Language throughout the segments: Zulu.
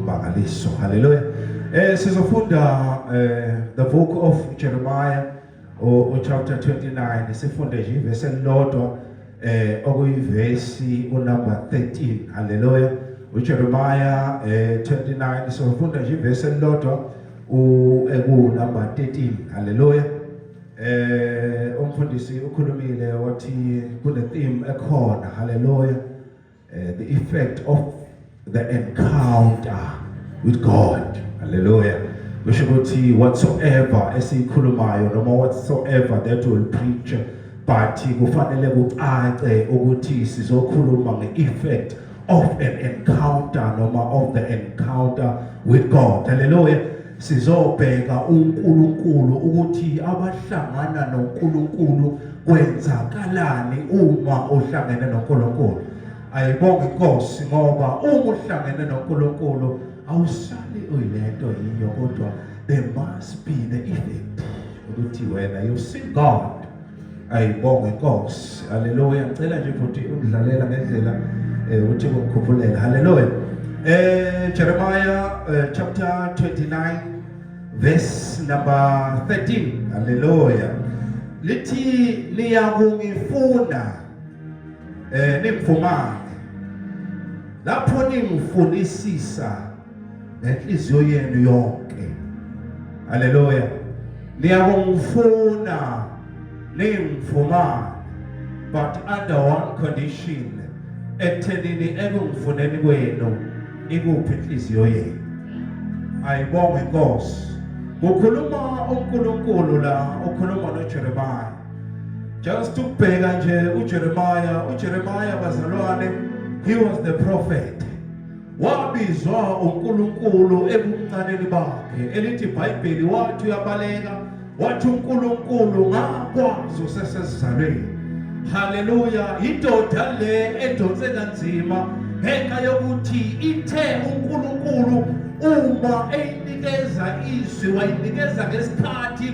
Mangaliso. Hallelujah. Eh sizofunda eh the book of Jeremiah o chapter 29 sifunde nje ivesi elilodwa eh okuyivesi unumber 13. Hallelujah. uJeremiah eh 29 sifunda nje ivesi elilodwa ekunumber 13 haleluya eh umfundisi ukhulumile wathi kune theme ekhona haleluya uh, the effect of the encounter with God hallelujah kusho ukuthi whatsoever esiyikhulumayo noma whatsoever that will preach but kufanele kucace ukuthi sizokhuluma nge-effect of an encounter noma of the encounter with God hallelujah Sizobheka uNkulunkulu ukuthi abahlangana noNkulunkulu kwenzakalani uma uhlangene noNkulunkulu. Ayibonge inkosi ngoba uma uhlangene noNkulunkulu awusali uyilento yiyo kodwa there must be the effect ukuthi wena you see God ayibonge Nkosi haleluya ngicela nje ukuthi ungidlalela ngendlela eh, ukuthi ngikukhuphulele haleluya eh Jeremiah eh, chapter 29 verse number 13 haleluya lithi niyakungifuna eh ningifumane lapho ningifunisisa nenhliziyo yenu yonke haleluya niyakungifuna ningifumane but under one condition ekuthenini ekungifuneni kwenu ikuphi inhliziyo yenu ayibonge inkosi kukhuluma uNkulunkulu la ukhuluma noJeremiah just ukubheka nje uJeremiah uJeremiah bazalwane he was the prophet wabizwa uNkulunkulu ebuncaneni bakhe elithi iBhayibheli wathi uyabaleka wathi uNkulunkulu ngakwazi usesesizalweni haleluya indoda le edonse kanzima ngenxa yokuthi ithe uNkulunkulu uma eyinikeza izwi wayinikeza ngesikhathi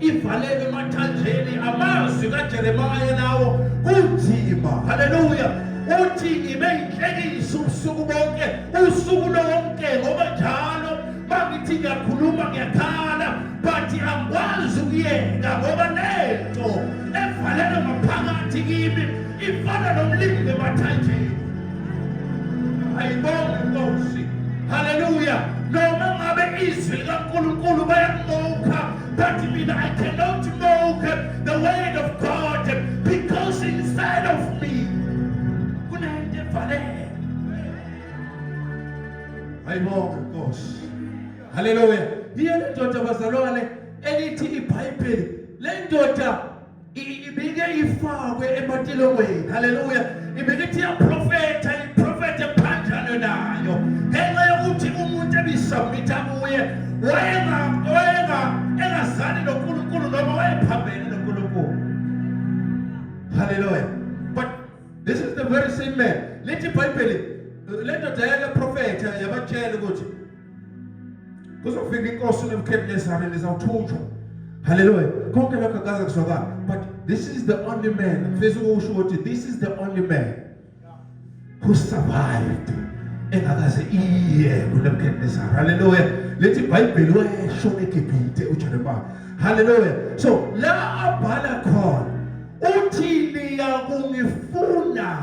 ivalelwe emathanjeni amazwi kajeremaya lawo kunzima haleluya uthi ngibe yinhlekisa ubusuku bonke usuku lonke ngoba njalo mangithi ngiyakhuluma ngiyakhala but angikwazi ukuyeka ngoba lento evalelwe ngaphakathi kimi ifana nomlimi emathanjeni ayibonge inkosi haleluya noma ngabe izwi likankulunkulu bayakumokha That means I cannot know the word of God because inside of me kunento evalele. Ayibonga Nkosi. Hallelujah. Yiyo le ndoda bazalwane elithi iBhayibheli. Le ndoda ibike ifakwe ematilongweni haleluya ibike ithi yaprofetha iprofethe phanjalo nayo ngenxa yokuthi umuntu ebisubmitha kuye wayenga wayenga engazani noNkulunkulu noma wayephambene noNkulunkulu haleluya but this is the very same man lithi ibhayibheli le ndoda yake profetha yabatshela ukuthi kuzofika inkosi nebukhedelezane lizawuthunjwa haleluya konke lokho akaze kuzwakala but this is the only man ngifisa ukusho ukuthi this is the only man who survived engakaze iye kunebukhedelezane haleluya lethi ibhayibheli wayesho egibhite ujeremiya haleluya so la abhala khona uthi niyakungifuna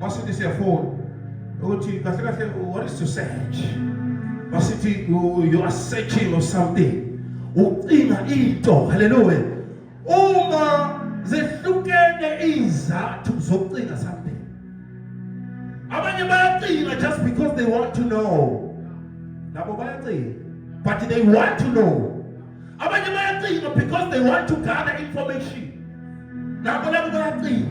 masithi siyafona ukuthi kahle kahle what is to search masithi you are searching of something ucinga into haleluya uma zehlukene izathu zokucinga something abanye bayacinga just because they want to know labo bayacinga but they want to know abanye bayacinga because they want to gather information nabo labo bayacinga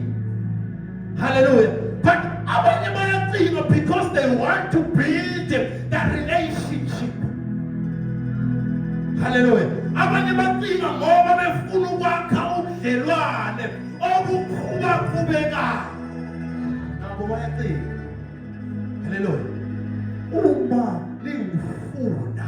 haleluya but abanye bayacinga because they want to build that relationship haleluya abanye bacinga ngoba befuna ukwakha ubudlelwane obukhula qhubekayo nabo bayacinga haleluya uma lingufuna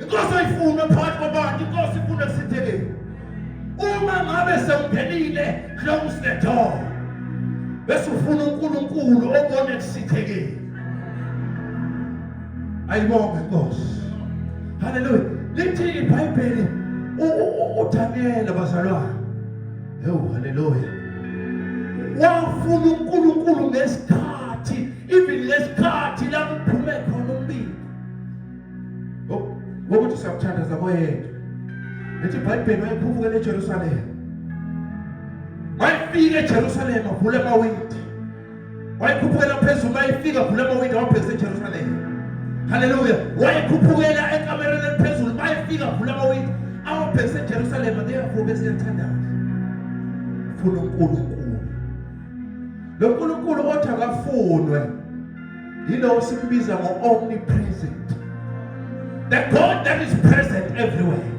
inkosi ayifune phakathi kwabantu inkosi ifune kusithekeni uma ngabe sewungenile close the door bese ufuna uNkulunkulu obone kusithekeni ayibonge inkosi haleluya lithi ibhayibheli uDaniel bazalwane hewu haleluya wafuna uNkulunkulu ngesikhathi even ngesikhathi lapho ngokuthi siyamthandaza koyedwa lithi ibhayibheli wayephufukela ejerusalema wayefika ejerusalema vula amawindi wayekhuphukela phezulu wayefika vula amawindi wabhekisa ejerusalema haleluya wayekhuphukela ekamereni eliphezulu bayefika vula amawindi awabhekisa ejerusalema ngeyavuka esiyathandaza funa unkulunkulu lo nkulunkulu othi akafunwe yilowo sikubiza ngo-omnipresent the god that is present everywhere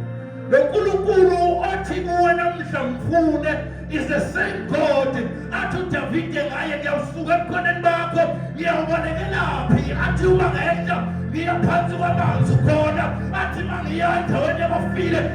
lo nkulunkulu othi kuwe namhla mfune is the same god athi udavide ngaye ngiyawusuka ebukhoneni bakho ngiyawubolekelaphi athi uma ngehla ngiya phansi kwamanzi khona athi uma ngiya endaweni yabafile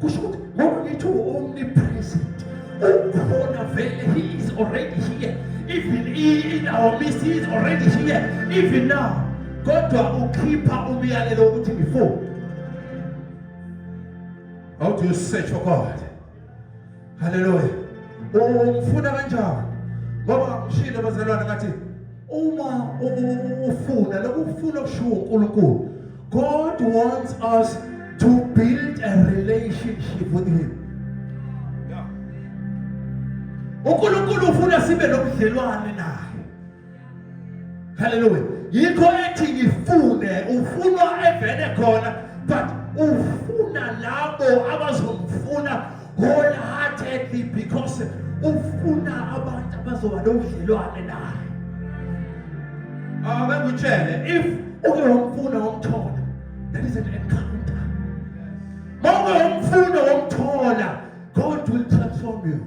kusho ukuthi ngoba ngithi u-omnipresent ukhona vele he is already here even in our midst he is already here even now kodwa ukhipha umyalelo ukuthi before how do you search for god Haleluya. Ungifuna kanjani? Ngoba ngishilo bazalwane ngathi uma ufuna lokufuna okushiwo uNkulunkulu God wants us to build a relationship with him. Yeah. uNkulunkulu ufuna sibe nobudlelwane naye. Hallelujah. Yikho ethi ngifune ufunwa evele khona but ufuna labo abazomfuna wholeheartedly because ufuna abantu abazoba nobudlelwane naye. Akakutshele ah, if uke wamfuna wamthola that is an encounter. Mawuke wamfuna wamthola God will transform you.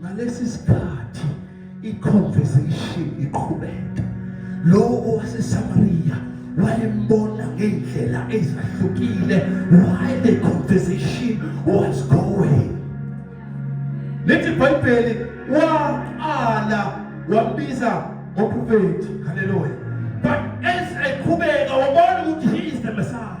ngalesi sikhathi iconversation iqhubeka lowo owasesamariya wayembona ngey'ndlela ezahlukile why the conversation was going lithi ibhayibheli waqala wambiza ngoprofethi haleluya but as eqhubeka wabona ukuthi he is the messiah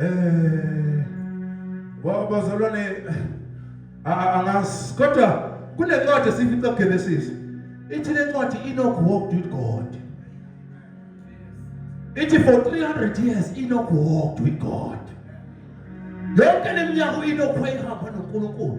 Eh wow bazalwane angas kodwa kunencwadi esifica Genesis ithi lencwadi Enoch walked with God ithi for 300 years Enoch walked with God yonke leminyaka uEnoch wayehamba noNkulunkulu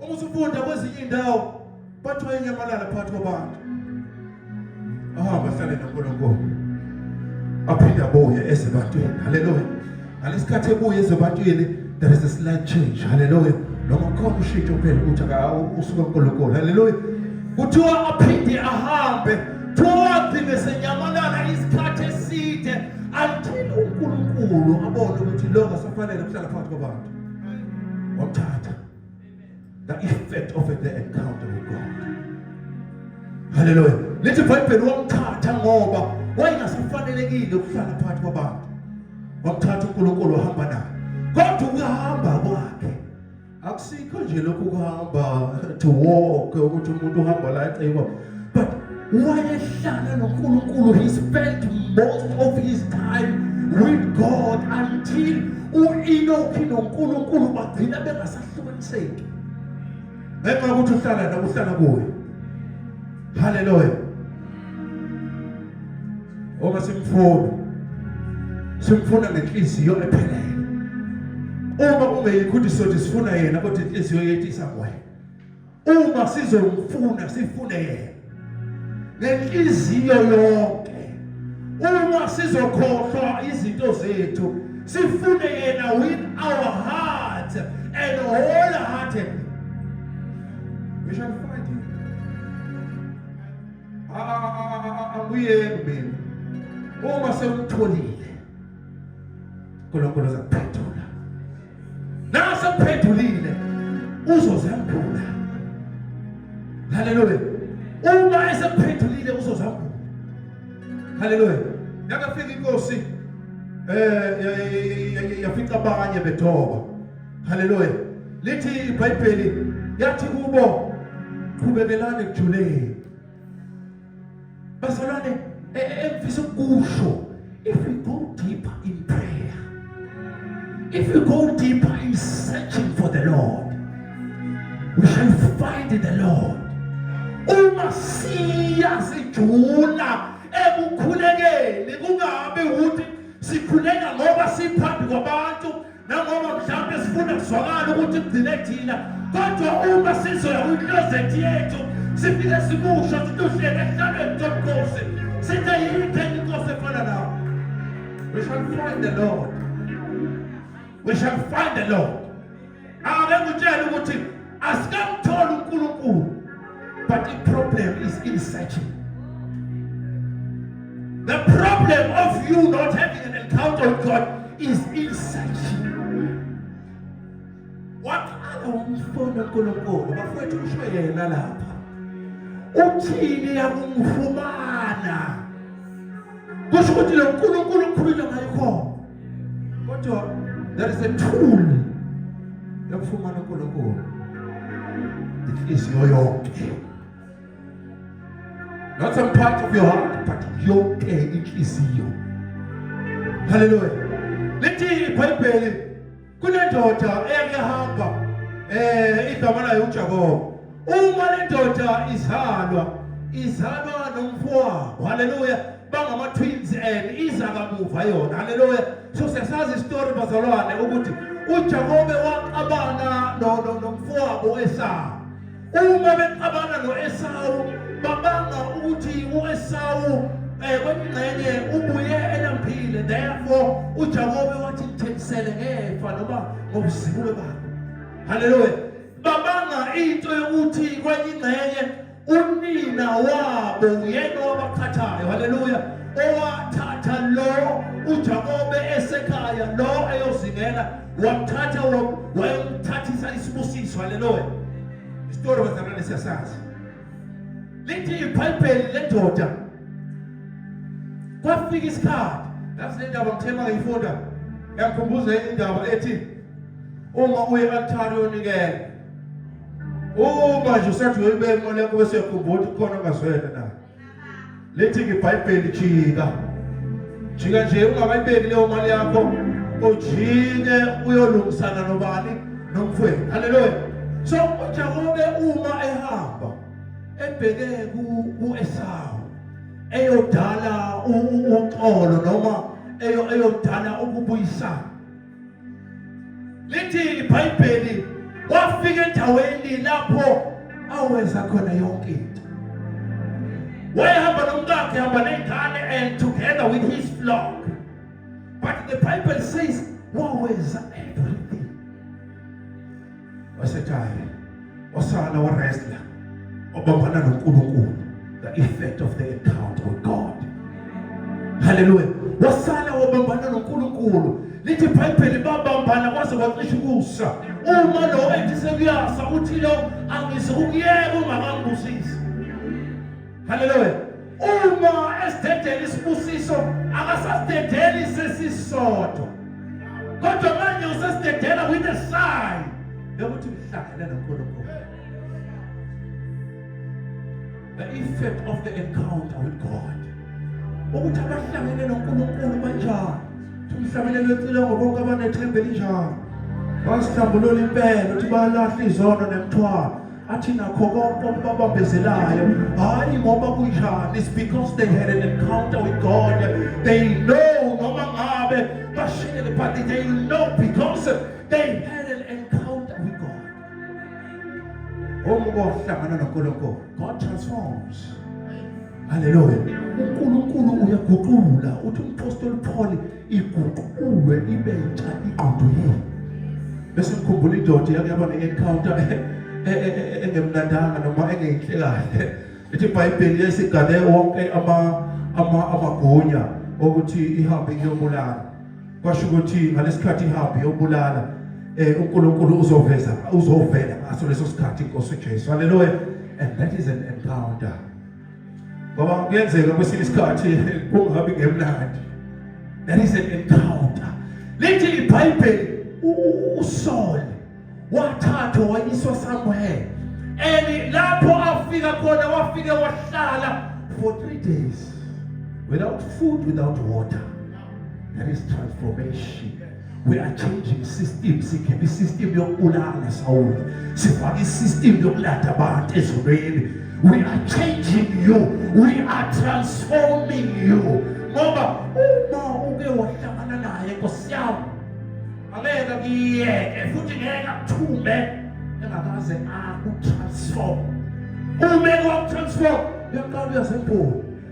Uma usufunda kwezinye indawo bathiwa inyamalala phakathi kwabantu. Ahamba ahlale noNkulunkulu. Aphinde abuye ezebantwini. Haleluya. Ngalesikhathi ebuye ezebantwini there is a slight change. Haleluya. Noma khona ushintsho phela ukuthi usuka kuNkulunkulu. Haleluya. Kuthiwa aphinde ahambe toward ngesenyamalala isikhathi eside until uNkulunkulu abone ukuthi lo ngasafanele kuhlala phakathi kwabantu. Wamthatha. The effect of the encounter with God. Hallelujah. Lithi iBhayibheli wamthatha ngoba wayengasafanelekile ukuhlala phakathi kwabantu. Wamthatha uNkulunkulu wahamba naye. Kodwa ukuhamba kwakhe akusikho nje lokhu kuhamba to walk ukuthi umuntu uhamba la ecebo but wayehlala noNkulunkulu he spent most of his time with God until u-Enoki noNkulunkulu bagcina bengasahlukaniseki ngenxa yokuthi uhlala nawe uhlala kuye haleluya uma simfuna simfuna ngenhliziyo ephelele uma ungeyikho ukuthi sothi sifuna yena kodwa inhliziyo yethu isakwena uma sizomfuna sifune yena ngenhliziyo yonke uma sizokhohlwa izinto zethu sifune yena with our heart and wholehearted we shall find him abuyeni mina uma sewutholile uNkulunkulu uzakuphetha Nawe sekuphendulile uzozambula. Haleluya. Uma esekuphendulile uzozambula. Haleluya. Yakafika inkosi eh yafica abanye bethoba. Haleluya. Lithi iBhayibheli yathi kubo qhubekelani kujuleni. bazalwane e, e, engifisa ukusho if we go deeper in prayer if we go deeper in searching for the lord we shall find the lord uma siya sijula ekukhulekeni kungabi ukuthi sikhuleka ngoba siphambi kwabantu nangoba mhlawumbe sifuna kuzwakala ukuthi kugcine thina kodwa uma sizoya kwiklozethi yethu sifike sikusho sithi uhlele ehlalweni sobukhosi sithe yikho enye inkosi efana nawo we shall find the lord we shall find the lord akengitshela ukuthi asikamtholi uNkulunkulu but the problem is in searching the problem of you not having an encounter with God is in searching waqala umfona uNkulunkulu bafowethu kusho yena lapha uthini yakumfumana kusho ukuthi lo nkulunkulu ukhuluma ngayo khona kodwa there is a tool yokufumana uNkulunkulu inhliziyo yonke not some part of your heart but yonke inhliziyo haleluya lithi ibhayibheli kunendoda eyake hamba eh igama layo uJakobo uma lendoda izalwa izalwa nomfowabo haleluya bangama twins and iza kamuva yona haleluya so siyasazi istory bazalwane ukuthi uJakobe waqabana nomfowabo esawo Uma bexabana no-Esawu babanga ukuthi u-Esawu eh, kwengxenye ubuye elampile therefore uJakobe wathi ngithengisele ngefa noma ngobuzibulo bakhe haleluya babanga into yokuthi kwenye ingxenye unina wabo uyena wabaqhathayo haleluya owathatha lo uJakobe esekhaya lo eyozingela wamthatha wayomthathisa isibusiso haleluya isitori bazalwane siyasazi lithi ibhayibheli lendoda kwafika isikhathi ngathi le ndaba ngithema ngayifunda yakhumbuza indaba ethi uma uye altari yonikela uma nje usathi uyoyibeka imali yakho bese uyakhumbula ukuthi khona ongazwela nayo lithi ngebhayibheli jika jika nje ungakayibeki leyo mali yakho ujike uyolungisana nobani nomfwethu haleluya so ujakobe uma ehamba ebheke ku-esawu eyodala uxolo noma eyodala ukubuyisana lithi ibhayibheli wafika endaweni lapho awenza khona yonke into wayehamba nomkakhe hamba ney'ngane and together with his flock but the bible says wawenza everything wasekhaya osala waresla obambana noNkulunkulu the effect of the encounter with God haleluya wasala wabambana noNkulunkulu lithi ibhayibheli babambana kwaze kwacisha ukusa uma lo ethi sekuyasa uthi lo angise ukuyeka ungakambusi Haleluya. Uma esidedela isibusiso akasasidedeli sesisodwa. Kodwa manje usesidedela with a sign yokuthi uhlangene noNkulunkulu. The effect of the encounter with God. Ukuthi abahlangene noNkulunkulu banjani? Umhlabelelo wecile ngobonke abanethemba elinjalo. Wasihlambulula impela ukuthi balahle izono nemthwalo. athi nakho konke okubabambezelayo hhayi ngoba kunjani is because they had an encounter with god they know noma ngabe bashiyele but they know because they had an encounter with god omuke wahlangana nonkulunkulu god transforms haleluya unkulunkulu uyaguqula uthi umpostoli pholi iguqulwe ibe ntsha ingqondo yenu bese ngikhumbula indoda yake yaba ne-encounter e, e, e, engemnandanga noma engeyinhle kahle ithi ibhayibheli lesigane wonke amagunya okuthi ihambe iyobulala kwasho ukuthi ngalesikhathi ihambe iyobulala eh uNkulunkulu uzoveza uzovela ngaso leso sikhathi inkosi uJesu haleluya and that is an encounter ngoba kuyenzeka kwesinye isikhathi kungabi ngemnandi that is an encounter lithi ibhayibheli usole wathathwa wayiswa somewhere and lapho afika khona wafike wahlala for three days without food without water There is transformation. We are changing system. Sikhipha system yokubulala Saul. Sifake system yokulanda abantu ezulwini. We are changing you. We are transforming you. Ngoba uma uke wahlangana naye Nkosi yami angeke kuyeke futhi ngeke akuthume engakaze akutransform. Uma kwakutransform uyaqala uyasenkulu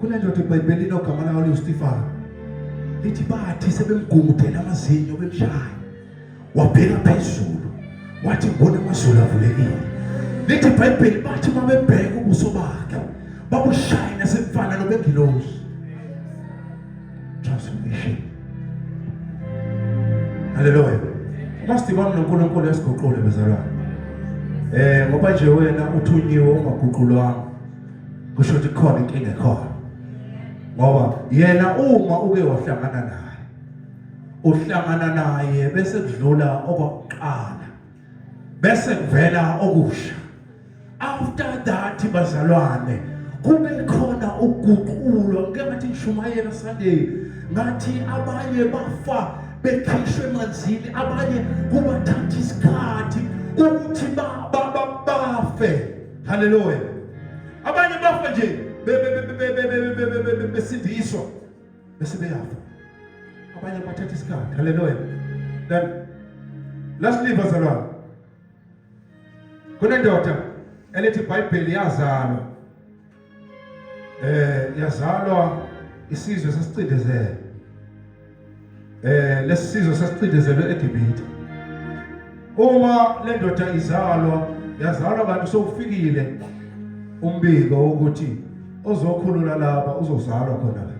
Kunendoda eBhayibhelini ogama layo liwuStefano. Lithi bathi sebemgungudela amazinyo bemshaya. Wabheka phezulu. Wathi ngibona amazulu avulekile. Lithi iBhayibheli bathi babebheka ubuso bakhe. Babushaya nasemfana nobengilosi. Transformation. Hallelujah. Must ibona uNkulunkulu esiguqule bezalwane. Eh ngoba nje wena uthunyiwe ungaguqulwanga. kusho ukuthi khona inkinga ekhona ngoba yena uma uke wahlangana naye uhlangana naye bese kudlula okwakuqala bese kuvela okusha after that bazalwane kube khona uguqulo ngeke ngathi ngishumayela Sunday ngathi abanye bafa bekhishwe emanzini abanye kubathatha isikhathi ukuthi bafe Haleluya. Abanye bafa nje besindiswa bese beyafa. Abanye bathatha isikhathi. Haleluya. Then last leave bazalwane. Kunendoda elithi iBhayibheli yazalwa eh yazalwa isizwe sesicindezelwe eh lesizwe sesicindezelwe eGibhithe uma lendoda izalwa yazalwa kanti sokufikile umbiko ukuthi ozokhulula laba uzozalwa khona la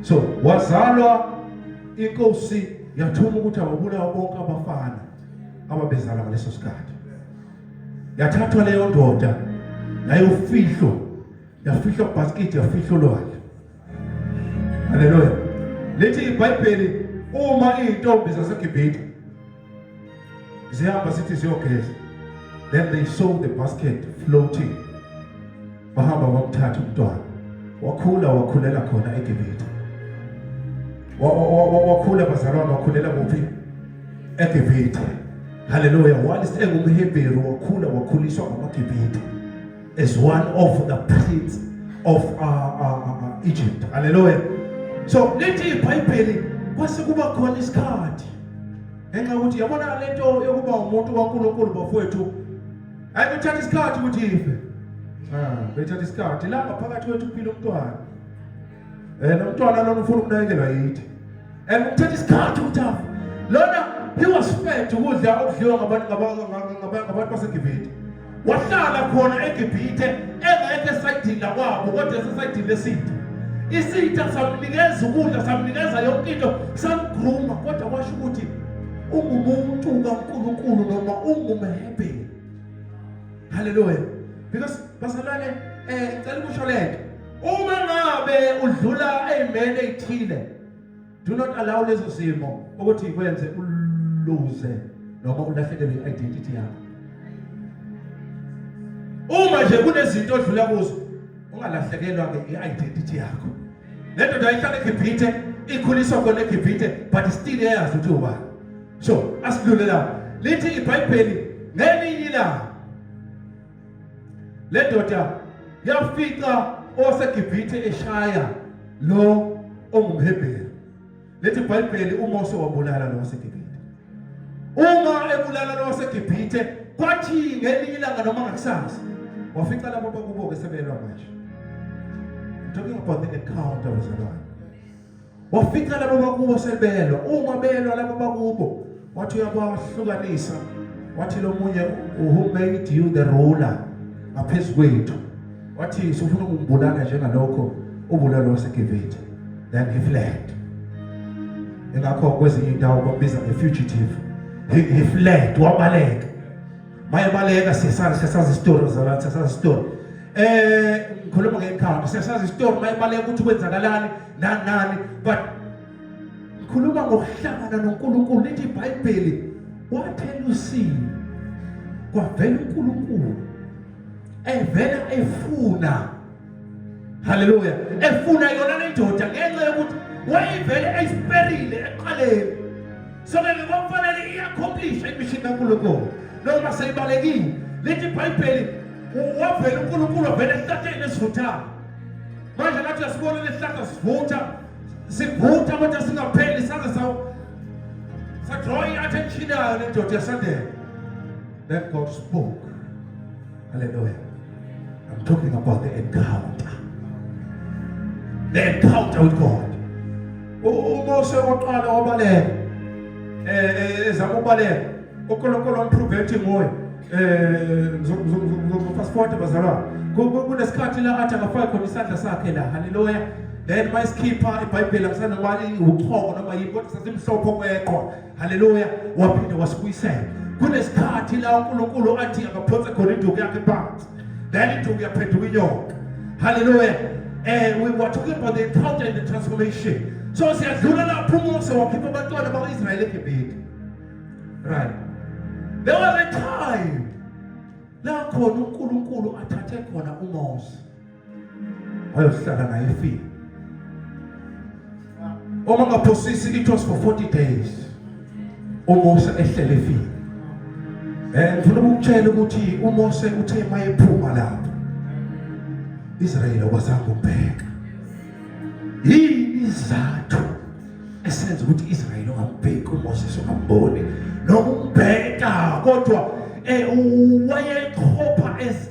so wazalwa inkosi yathuma ukuthi awubulawa bonke abafana ababezala ngaleso sikhathi yathathwa leyo ndoda yayofihlwa yafihlwa kubhasikidi yafihlwa olwandle haleluya lithi ibhayibheli uma iy'ntombi zasegibhide zihamba sithi ziyogeza then they saw the basket floating wahamba wamthatha umntwana wakhula wakhulela khona eGibithe wakhula bazalwane wakhulela kuphi eGibithe haleluya whilst engumhebheru wakhula wakhuliswa ngamaGibithe as one of the prince of uh, uh, uh, uh Egypt haleluya so lithi ibhayibheli kwase kuba khona isikhathi ngenxa yokuthi yabona lento yokuba umuntu kaNkulunkulu bafowethu ayikuthatha isikhathi ukuthi ife ah bethatha isikhathi la ngaphakathi kwethu kuphila umntwana eh nomntwana lona ufuna ukunakekelwa yithi and kuthatha isikhathi ukuthi afe lona he was fed ukudla okudliwa ngabantu ngabantu basegibhithe wahlala khona egibhithe engekho esayidini lakwabo kodwa esesayidini lesitha isitha samnikeza ukudla samnikeza yonke into samgruma kodwa kwasho ukuthi ungumuntu kaNkulunkulu noma ungumhe ebheni haleluya because bazalwane eh cela ukusho lento uma ngabe udlula amen ethile do not allow lezo zimo ukuthi ikwenze uluze noma ulahlekelwe i-identity yakho uma nje kunezinto odlula kuzo ungalahlekelwa ke i-identity yakho le ndoda ihlala egibhithe ikhuliswa khona egibhithe but still eyazi ukuthi ubani so asidlule la lithi ibhayibheli ngelinye ilanga le ndoda yafica osegibhithe eshaya lo ongumhebheru lethi ibhayibheli umose wabulala lo wasegibhithe uma ebulala lo wasegibhithe kwathi ngelinye ilanga noma ngakusasa wafica labo bakubo-ke sebelwa manje I'm talking about the encounter with the Lord. wafica labo bakubo sebelwa uma belwa labo bakubo wathi uyabahlukanisa wathi lo munye who made you the ruler ngaphezu kwethu wathi sifuna ukumbulala njengalokho ubulalo waseGibhithe then he fled engakho kwezinye indawo babiza nge-fugitive he, he fled wabaleka bayebaleka siyasazi siyasazi isitori zala siyasazi isitori eh ngikhuluma ngekhanda siyasazi isitori bayebaleka ukuthi kwenzakalani nani nani but ngikhuluma ngokuhlangana noNkulunkulu lithi iBhayibheli wathela usini kwavela uNkulunkulu evela efuna haleluya efuna yona lendoda ngenxa yokuthi wayivele ayisiperile eqaleni so ke ngokufanele i-accomplishe imishini kankulunkulu noma seyibalekile lithi ibhayibheli wavele unkulunkulu wavele esihlahleni esivuthayo manje ngathi uyasibona lesihlahla sivutha sivutha kodwa singapheli saze sadraw i-attention yayo lendoda yasondela then god spoke Hallelujah. I'm talking about the encounter. The encounter with God. UMose oqala wabaleka. Eh ezama eh, ukubaleka. UNkulunkulu umprove ethi nguye. Eh ngizofast forward bazalwa. Kunesikhathi la athi akafaki khona isandla sakhe la. Hallelujah. Then mayisikhipa iBhayibheli akusana kwali uqhoko noma yini kodwa sasimhlophe okweqhwa. haleluya waphinde wasibuyisela kunesikhathi la unkulunkulu athi akaphonse khona induku yakhe phansi then induku yaphenduka inyoka haleluya eh we were talking about the encounter and the transformation so siyadlula lapho umose wakhipha abantwana bakwa-israyeli egibhide right there was a time la khona unkulunkulu athathe khona umose ayohlala naye efile uma ngaphosisi it was for 40 days uMose ehlele efile eh ngifuna ukutshela ukuthi uMose uthe mayephuma lapho Israel okwazanga ukubheka yini izathu esenza ukuthi Israel ongabheki uMose sokambone nokubheka kodwa eh wayekhopha as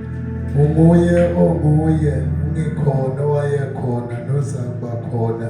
Unguye onguye ungikhona owayekhona nozakuba khona